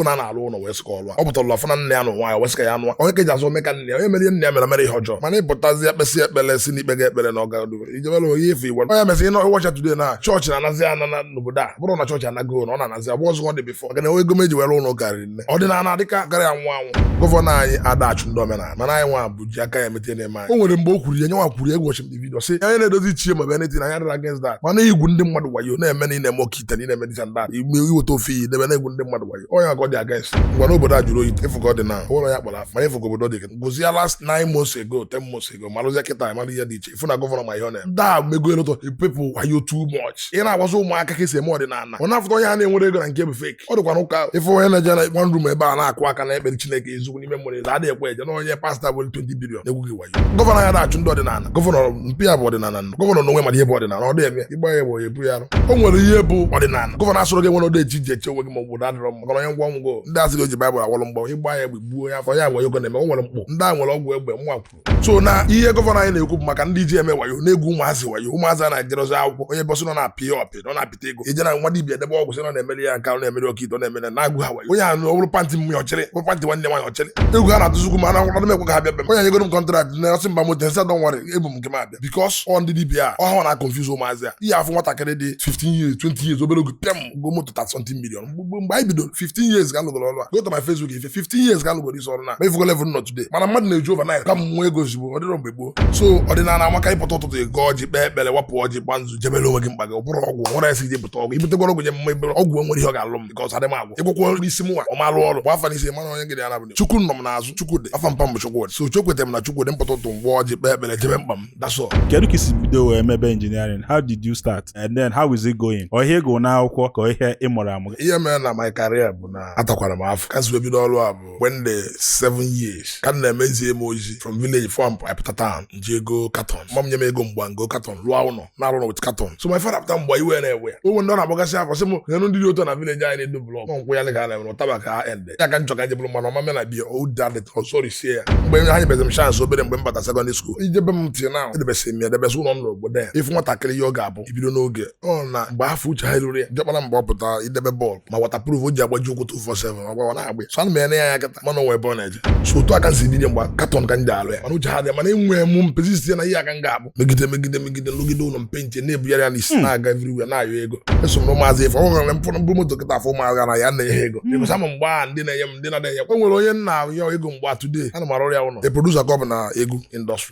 bụ na na-alụ ụlọ wee sịka ọlụ a ọ pụtara afọ na nne ya na ụwa ya wee sịka ya anụwa onye ka eji azụ ome ka nne ya onye mere ihe nne ya mere mere ihe ọjọọ mana ịpụtazi ekpesị ekpere si n'ikpe ga ekpere na ọgadu ijebere onye ife iwe onye mesị ịnọ ịwacha today na chọọchị na-anazi ana na n'obodo a bụrụ na chọọchị anaghị ụlọ ọ na-anazi abụ ọzọ ọ dị bifọ maka na enwe ego meji were ụlọ karịrị nne ọdịnala dịka gara ya nwa anwụ gọvanọ anyị adị achụ ndị omenala mana anyị nwa bụ ji aka anyị emete na-eme anyị o nwere mgbe o kwuru ya nyenwa kwuru egwu ọchị m vidio sị onye na-edozi ichie ma bụ anything na ya adịrọ against that mana igwu ndị mmadụ wayo na-eme na ị na-eme oke kịta niile eme dịta ndị igbe iweta ofe iyi debe na-egwu ndị mmadụ wayo ọ ya ka ọ dị against ngwa n'obodo ajụrụ oyi ịfụgo dị na ụlọ ya kpara mana ịfụgo obodo dị gozi ya last nine months ago ten months ago marụzie kịta mara ihe dị iche ịfụ na gọvanọ ma ihe ọ na ndị a emego a lot of people wayo too much ị na-agwazi ụmụaka ka esi eme ọdịnala ọ na-afụta onye a na-enwere ego na nke bụ fake ọ dịkwa n'ụka ịfụ onye na-eje na one room ebe a na-akụ aka na-ekpere Chineke ezugbo n'ime mmụọ ịza adịghị ekwe eje n'onye pasta bụ 20 bilion egwu gị wayo gọvanọ anyị adị achụ ndị ọdịnala gọvanọ mpa ya bụ ọdịnala gọvanọ n'onwe mara ihe bụ ọdịnala ọ dị eme ịgba ya bụ ebu ya arụ o nwere ihe bụ ọdịnala gọvanọ asịrọ gị enwela odeshi ji eche onwe gị ma ọ bụ na adịrọ mma onye ngwa ngwa ndị a sị o ji baịbụl awọrọ mgbọ ịgba ya egbe gbuo ya afọ ya nwe yogo na-eme o nwere mkpụ ndị a nwere ọgwụ egbe nwa so na ihe gọvanọ anyị na-ekwu bụ maka ndị ji eme wayo na-egwu ụmụazị wayo ụmụazị a na-ejerozi akwụkwọ onye ọ bụ sị na ọ na-apị ya apị na ọ na-apịta ego i jee na nwa dibia edebe ọgwụ sị na ọ na-emere ya nke ahụ na-emere oke ite na-emere na-egwu ha wayo onye a na ọbụrụ pantị nwunye ọ chịrị bụ pantị nwanne nwaanyị ọ chịrị egwu ha na-atụzikwu m na akwụkwọ na-emekwa ka ha bịa be m onye nyegoro m kọntraktị na ọ sị m baa moto m sị ya don't worry ebu m nke m abịa ya because ọ ndị dibia ọ ha na-aconfuse ụmụazị a ị ya-afụ nwatakịrị dị 15 years 20 years obere oge pịam o goo moto 30 million mgbe gboo mgbe anyị bidoro 15 years ka m lụgoro ọrụ a go to my facebook ị fụ 15 years ka m lụgoro isi ọrụ na ma ị fụgo level m nọ today mana mmadụ na-eji overnight ka m nwee ego ozugbo ọ dịrọ mgbe gboo so ọdịnala amaka ị pụta ụtụtụ ị gọọ ọjị kpee ekpere wapụ ọjị gba nzu jebere onwe gị mkpa gị ọ bụrụ ọgwụ nwere esi ije pụta ọgwụ ibutekwara ọgwụ nye mma ebere ọgwụ enwerọ ihe ọ ga-alụ m because adị m agwọ ị gwọkwaa n'isi mụnwa ọ ma-alụ ọrụ bụ afa n'isi mana onye ngịdị ya nabụ chukwu nọ m n'azụ chukwu dị afa mpa m bụ Chukwudi so ekweta m na chukwu dị m pụta ụtụtụ m gbaa ọjị kpee ekpere jebe mkpa m that's all kedu ka i si bido wee mebe engineering how did you start and then how is it going ọ ihe ị gụrụ n'akwụkwọ ka ọ ihe ị mụrụ amụ ihe mere na my career bụ na atakwara m afụ ka m si wee bido ọrụ a bụ when m dị seven years ka a na-eme zie m ozi from village before m pụta town m ji ego katon mma m nye m ego m gbaa m goo katon lụọ ụlọ na-arụ ụlọ with katon so my father apụta mgbe a iwe na-ewe ya o nwee ndị ọ na-agbagasị afọ sị m nenu ndị dị otu na village anyị na-edo blọk nkwụ ya ga na-enwe ụtaba ka ha ende ya ka njọ ka njebụrụ mmanụ ọ ma-eme na be ya odadịt ọsọri sie ya mgbe ha nyebezi m chance obere mgbe m bata secondary school ijebe m ntị na edebesị m ya edebesị ụlọ m n'obodo ya ị fụ nwatakịrị ihe ọ ga-abụ ibido n'oge ọ na mgbe afụ uche anyị ruru ya jọkpara mgbe ọ pụtara idebe bọọlụ ma waterproof o ji agbaji ụkwụ 247 ọ ga na-agba ya so ana m ene ya anya kata mana o nwere ebe ọ na-eje so otu a ka m si dide mgba katọn ka ndị alụ ya mana uche ha dị mana enwe mụ mpezisi ya na ihe a ka m ga-abụ megide megide megide m rụgide ụlọ mpe nche na-ebugharị ya n'isi na-aga everywhere na-ayọ ego eso m na ụmụazị afụ ọ nwere mfụrụ m buru moto kịta fụ ụmụazị gara ya na-enye ha ego ịbụsa ma mgbe a ndị na-enye m ndị na-enye m o nwere onye m na-ayọ ego mgbe a today ana m arụrụ ya ụlọ a producer ka ọ bụ na egwu industry